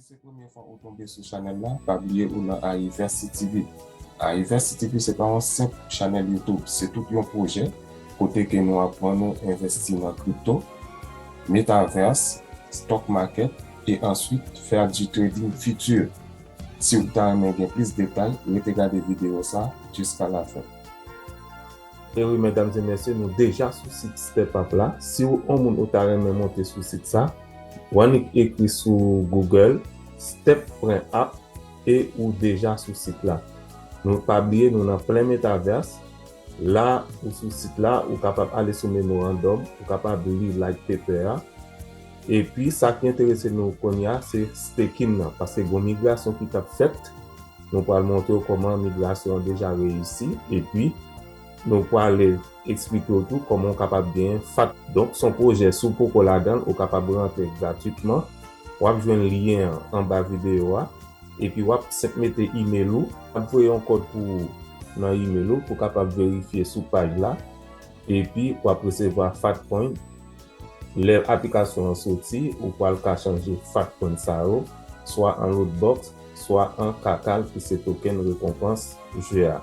Si se premye fwa ou tonbe sou chanèl la pa bliye ou nan Ariverse TV Ariverse TV se pa yon senp chanèl YouTube se tout yon pwojè kote ke nou aprann ou envèsti nan crypto, metaverse, stock market e answit faire du trading futur siw ta renmen gen plis detay rete gade video sa jiska la fin. Ewi medam e mesye nou deja sou sit step up la si ou on moun ou ta renmen monte sou sit sa ou annik ekri sou google step pren app e ou deja sou sit la nou pa bliye nou nan plen metaverse la ou sou sit la ou kapab ale sou memorandum ou kapab li like paper a epi sa ki enterese nou kounya se staking nan paske gon migrasyon ki tap fèt. Nou pral montre w kòman migrasyon an deja reyisi epi nou prale eksplike w tou kòman w kapab genyen fat. Donk son pwojè si w poko ladan l ou kapab rantre gratwitman wap jwenn lyen an anba videyo a epi wap senp mete email ou, nap voye yon kòd pou ou nan email ou pou kapab verifye sou paj la epi wap resevwa fat point. Lè aplikasyon an soti, ou pral ka chanje fat pwen sa yo, swa an Lootbox, swa an Kakal ki se token rekonpans jeu a.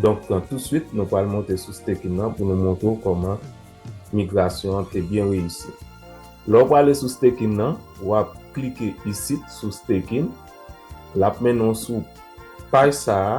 Donk pran touswit, nou pral monte sou Staking nan pou nou montre w kòman migrasyon an te byen reyisi. Lè w prale sou Staking nan, w ap klike isit sou Staking, l ap mennen w sou paj sa a.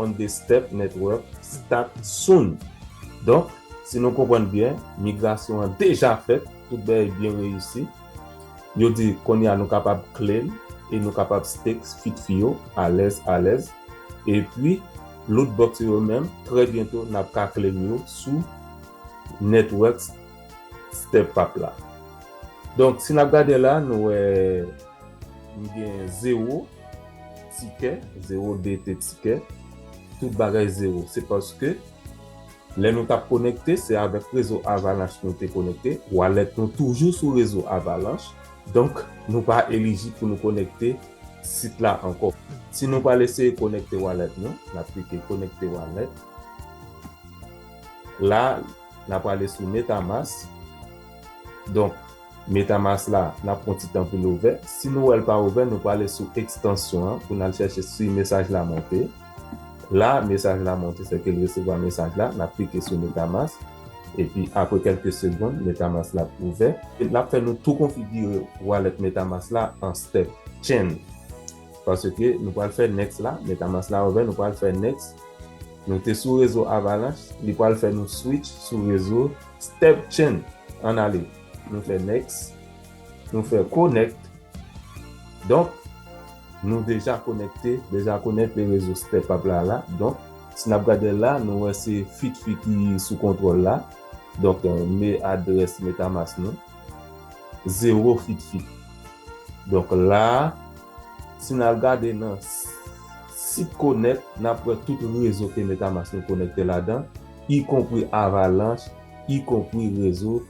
On the step network start soon Donk, si nou konprann byen, migrasyon an deja fèt, tout bagay byen reyisi. Yo di kounye a nou kapab claim e nou kapab stakes fit fi yo alèz alèz. Epi, lootbox yo menm, trè byento n ap ka claim yo sou network step app la. Donk, si n ap gade la, nou wè m gen 0. Tikè, zewo DT tikè, tout bagay zewo. Se paske lè nou tap konekte se avèk rezo Avalanche nou te konekte, wallet nou toujou sou rezo Avalanche, donk nou pa elijib pou nou konekte sit la ankò. Si nou pral eseye konekte wallet nou, nap klike konekte wallet. La, na prale sou Metamask. Donk. Metamask la, n ap pran ti tan pou l ouvè. Si nou wè l pa ouvè, nou prale sou ekstansyon an pou n al chèche si mesaj la monte. La, mesaj la monte, sèke l resevwa mesaj la. N ap klike sou Metamask, epi apre kèlke segonn, Metamask la ap ouvè. L ap fè nou tou konfigire walèt Metamask la an step chain, paske nou pral fè next la. Metamask la ouvè, nou pral fè next. Nou te sou rezo Avalanche, li pral fè nou switch sou rezo Step change, ann ale. Nou fè next, nou fè connect. Donk, nou deja konekte, deja connect le rezo step up la la. Donk, si n ap gade la, nou wè se FitFi ki sou kontwòl la. Donk, me adrès Metamask nou. Zewo FitFi. Donk la, si n al gade nan sit connect, n ap wè tout rezo ke Metamask nou konekte ladan. ikonpri Avalanche, ikonpri rezo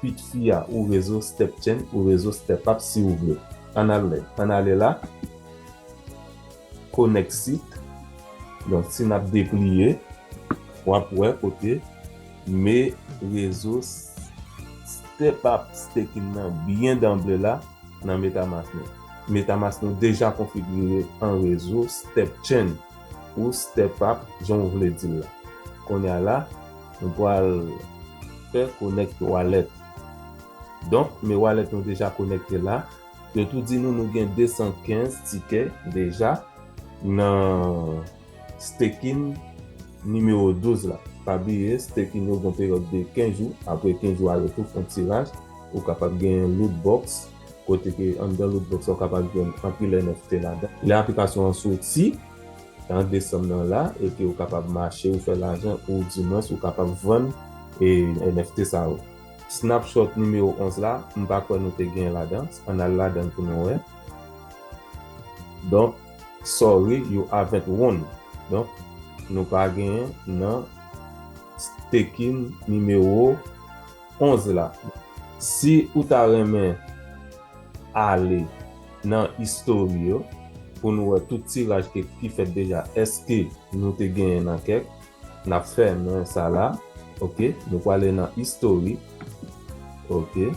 Pit Fi a ou rezo Step Chen ou rezo Step Up si ou vle. Ann al lè. Ann ale la. Connect site. Donk si nap depliye, wap wè kote me rezo Step Up Staking nan byen danble la nan Metamask nou. Metamask nou deja konfigire an rezo Step Chen. ou step up jan ou vle dil la. Konnya la nou pwal fè connect wallet. Donk me wallet nou deja konekte la. Yo tou di nou nou gen 215 tikè deja nan staking nimewo 12 la. Pa bliye staking yo gon peryòd de 15 jou. Apre 15 jou a yo tou fon tiraj. Ou kapab gen loot box. Kote ke anndan lootbox la ou kapab jwenn anpil NFT ladan. Lè aplikasyon an soti an desanm nan la epi ou kapab mache ou fè lajan ou di mwens ou kapab vann NFT sa yo. Snapshot nimewo 11 la m pa kwè nou te gen ladan ann al ladan pou nou wè. Donk sorry you avent won donk nou pa gen nan staking nimewo. 11 la si ou ta renmen ale nan history yo pou nou wè tout tiraj ki fèt deja eske nou te genyen nan kèk nap fèmen sa la ok nou prale nan history ok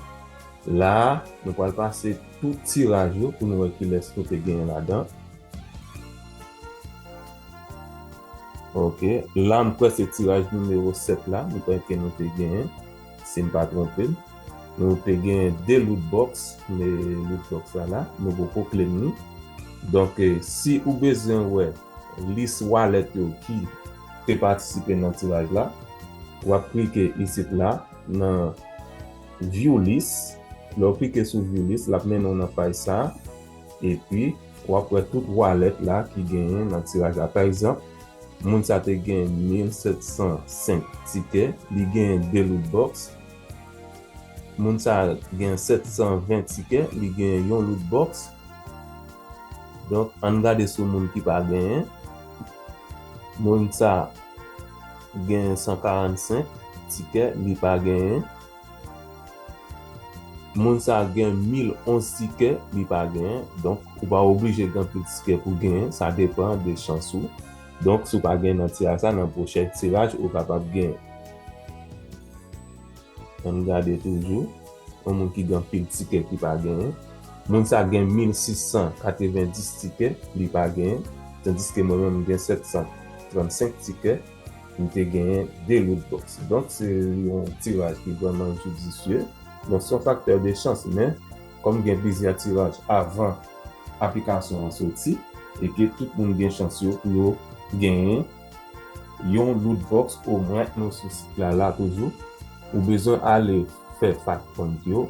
la nou pral pase tout tiraj yo pou nou wè kilès nou te genyen ladan. Ok, la m kwè se tiraj nimewo 7 la, m kwè ke nou te genyen, si m pa twonpe m. Nou te genyen 2 loot box, me loot box la la, nou poko claim li. Donk, si ou bezwen wè lis wallet yo ki te patisipe nan tiraj la, w ap klike isit la nan View list. Lè w klike sou View list, l ap mennen w nan paj sa a. Epi. Wap wè tout walèt la ki genyen nan tiraj la. Pa egzanp, moun sa te gen 1705 tikè, li genyen 2 loot box. Moun sa gen 720 tikè, li genyen yon loot box. Donk ann gade sou moun ki pa genyen. Moun sa genyen 145 tikè, li pa genyen. Moun sa gen mil onz tikè li pa genyen donk ou pa oblije gen anpil tikè pou genyen sa depan de chans ou donk si w pa genyen nan tiraj sa nan pwochèn tiraj ou kapab genyen an n gade toujou yon moun ki gen anpil tikè ki pa genyen moun sa gen mil sis san katrevendis tikè li pa genyen tandiske mwen menm m gen sèt san transenk tikè. li te genyen 2 lout bòks. Donk se yon tiraj ki vrèman judicieux. Bon se yon facteur de chance men kòm gen plizyè tiraj avan aplikasyon an soti e ke tout moun gen chans yo pou yo genyen yon lout bòks omwen nou sou sit la la toujou ou bezwen ale fè fact point yo.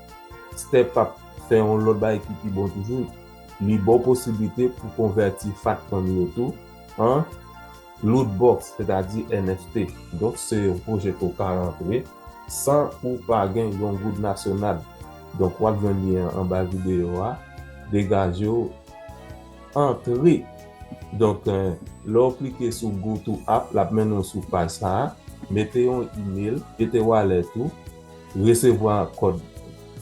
Step ap fè yon lòt bagay ki pi bon toujou, li ba w posiblite pou konvèti fat fanmi yo tou an loot box, sètadi NFT. Donk se yon pwojè ke w ka rantre san ou pa gen yon goud nasyonal. Donk w ap jwenn lyen an anba videyo a. Degaje w antre! Donk lè w klike sou Go to App, l ap mennen w sou paj sa a. Mete yon email, mete wallet ou. Resevwa kòd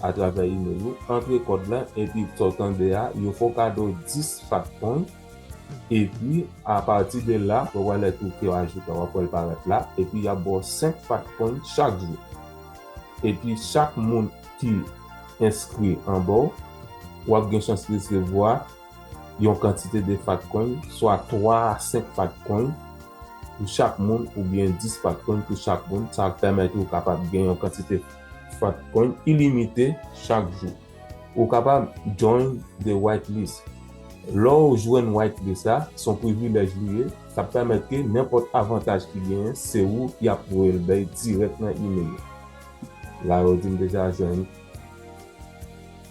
atravè imel ou, antre kòd la epi sa w tande a yo fè w kado 10 fat coin epi apati de la wè wallet ou ke w ajoute la wap wè l parèt la epi yap ba w 5 fat coin chak jou epi chak moun ki enskri anba w wap gen chans resevwa yon kantite de fatcoin, swa 3 a 5 fatcoin pou chak moun oubyen 10 fatcoin pou chak moun, sa ap pèmèt ou kapab gen yon kantite fatcoin ilimite chak jou. Ou kapab Join the White List, lè w jwenn White List la, se yon privilèj li ye, sa ap pèmèt ke nenpòt avantaj ki genyen se ou y ap voye l bay dirèk nan imel ou. La yo di m deja jwenn.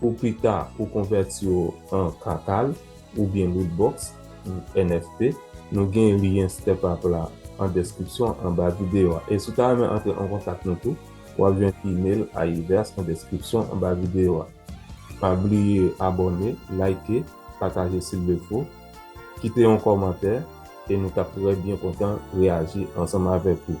Pou pita ou konvèti yo an Kakal oubyen Lootbox, NFT, nou gen lyen StepUp la an deskripsyon anba videyo a. E si w ta renmen antre an kontak nou tou, w ap jwenn email Ayiverse an deskripsyon anba videyo a. Pa bliye abòne, like, pataje silvefo, kite yon kòmantè e nou t ap trè byen kontan reyaji ansanm avèk ou.